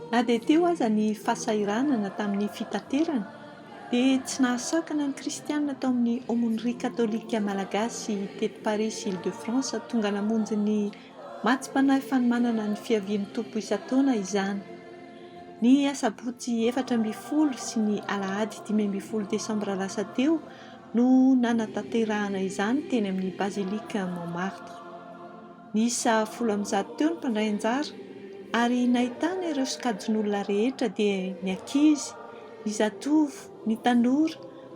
Na dia teo aza ny fahasahiranana tamin'ny fitaterana, dia tsy nahasakana ny Kristianina tao amin'ny Aumônerie Katolika Malagasy teto Parisy Île-de-France tonga namonjy ny Matsim-panahy Fanomanana ny Fiavian'ny Tompo isan-taona izany. Ny Asabotsy efatra ambin'ny folo sy ny Alahady dimy ambin'ny folo Desambra lasa teo no nanatanterahana izany teny amin'ny Bazilika Montmartre. Niisa folo amby zato teo ny mpandray anjara ary nahitana ireo sokajin'olona rehetra dia ny ankizy, ny zatovo, ny tanora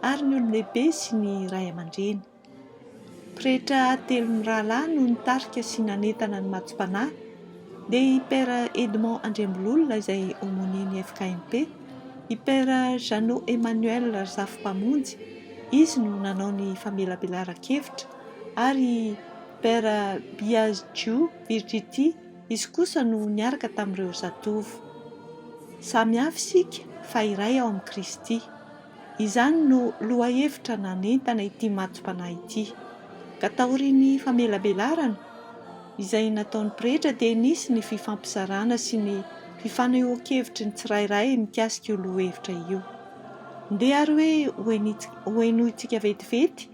ary ny olon-dehibe sy ny ray aman-dreny. Pretra telo mirahalahy no nitarika sy nanentana ny matsom-panahy dia i Père Edmond Andriambololona izay Aumônier-n'ny FKMP, i Père Jeannot Emmanuel Razafimpamonjy, izy no nanao ny famelabelaran-kevitra, ary i Père Biagio Virgiti, izy kosa no niaraka tamin'ireo zatovo. Samy hafa isika fa iray ao amin'i Kristy. Izany no lohahevitra nanentana ity matso-panahy ity. Ka taorian'ny famelabelarana izay nataon'ny pretra dia nisy ny fifampizarana sy ny fifanehoan-kevitry ny tsirairay mikasika io lohahevitra io. Ndeha ary hoe ho henointsika vetivety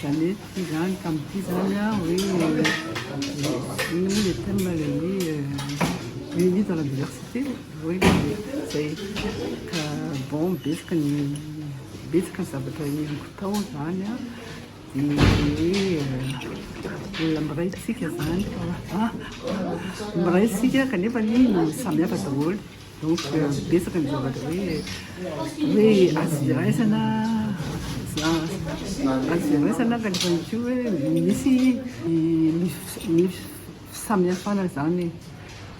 Zany ity zany ka amin'ity zany a hoe inona moa le terme le hoe unis dans la diversité hoe zay ka bon betsaka ny betsaka ny zavatra henoko tao zany a de hoe olona miray tsika zany fa miray tsika kanefa ny samihafa daholo Donc betsaka ny zavatra hoe hoe azo iraisana azo iraisana kanefa izy io hoe misy ny fisamihafana zany e.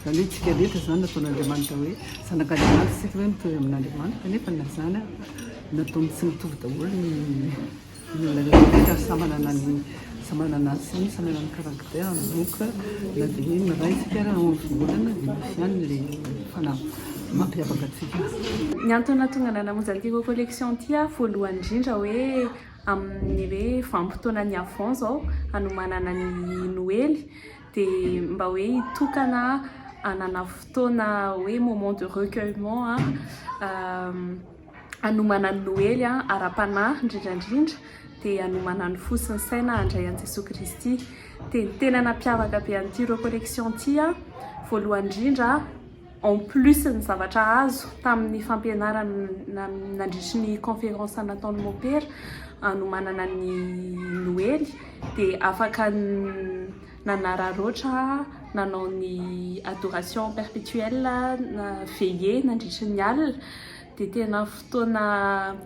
Zany hoe tsika rehetra zany nataon'Andriamanitra hoe zanak'Andriamanitra isika hoe mitory amin'Andriamanitra kanefa na zany ary nataony tsy mitovy daholo ny. Ny antony nahatonga anah namonjy an'ity Go Collection ity aho voalohany indrindra hoe amin'ny hoe vanim-potoanan'ny Avent izao hanomanana ny Noely dia mba hoe hitokana hanana fotoana hoe moment de recueillement hanomana ny Noely ara-panahy, indrindra indrindra dia hanomana ny fo sy ny saina handray an'i Jesoa Kristy. Dia ny tena nampiavaka be an'ity recollection ity, voalohany indrindra, en plus ny zavatra azo tamin'ny fampianarana nandritry ny conférence nataon'ny mopera hanomanana ny Noely, dia afaka nanararaotra, nanao ny adoration perpetuelle, na veillée nandritry ny alina, dia tena fotoana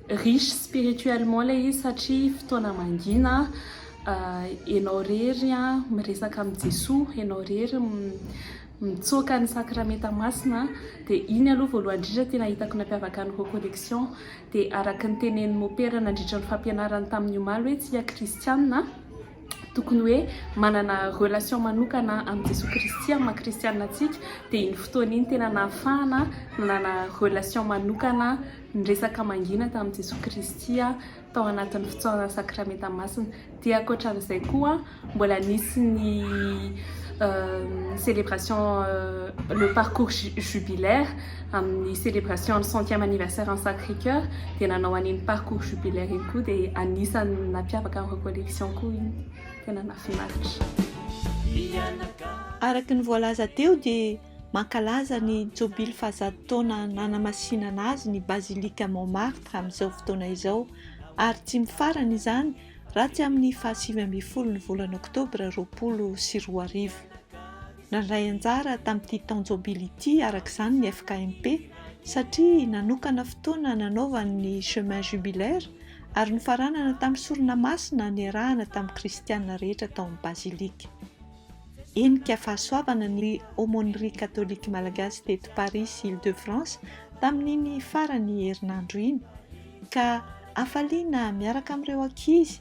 riche spirituellement ilay izy satria fotoana mangina, ianao irery miresaka amin'i Jesoa, ianao irery mitsoaka ny sakramenta masina, dia iny aloha voalohany indrindra no tena hitako nampiavaka ny recollection, dia araka ny tenenin'i Mopera nandritry ny fampianarany tamin'ny omaly hoe tsia kristianina, Tokony hoe manana relation manokana amin'i Jesoa Kristy amin'ny maha kristianina antsika dia iny fotoana iny tena nahafahana nanana relation manokana niresaka mangina tamin'i Jesoa Kristy tao anatin'ny fitsaorana sakramenta masina dia ankoatran'izay koa mbola nisy ny celebration le parcours jubilaire Amin'ny celebration ny centième anniversaire an'i Sacré Coeur dia nanao an'iny parcours jubilaire iny koa dia anisan'ny nampiavaka an'ireo collections koa iny. Tena nahafinaritra. Araka ny voalaza teo dia mankalaza ny jobily fahazato taona nanamasinana azy ny Basilique Montmartre amin'izao fotoana izao ary tsy mifarana izany raha tsy amin'ny fahasivy ambin'ny folo ny volana oktobra roapolo sy roa arivo. Nandray anjara tamin'ity taon-jobily ity araka izany ny FKMP satria nanokana fotoana nanaovany ny Chemin Jubilaire ary nofaranana tamin'ny sorona masina niarahana tamin'ny kristiana rehetra tao amin'ny Bazilika. Henika fahasoavana ny Aumônerie Catholique Malagasy teto Paris sy Île-de-France tamin'iny farany herinandro iny ka hafaliana miaraka amin'ireo ankizy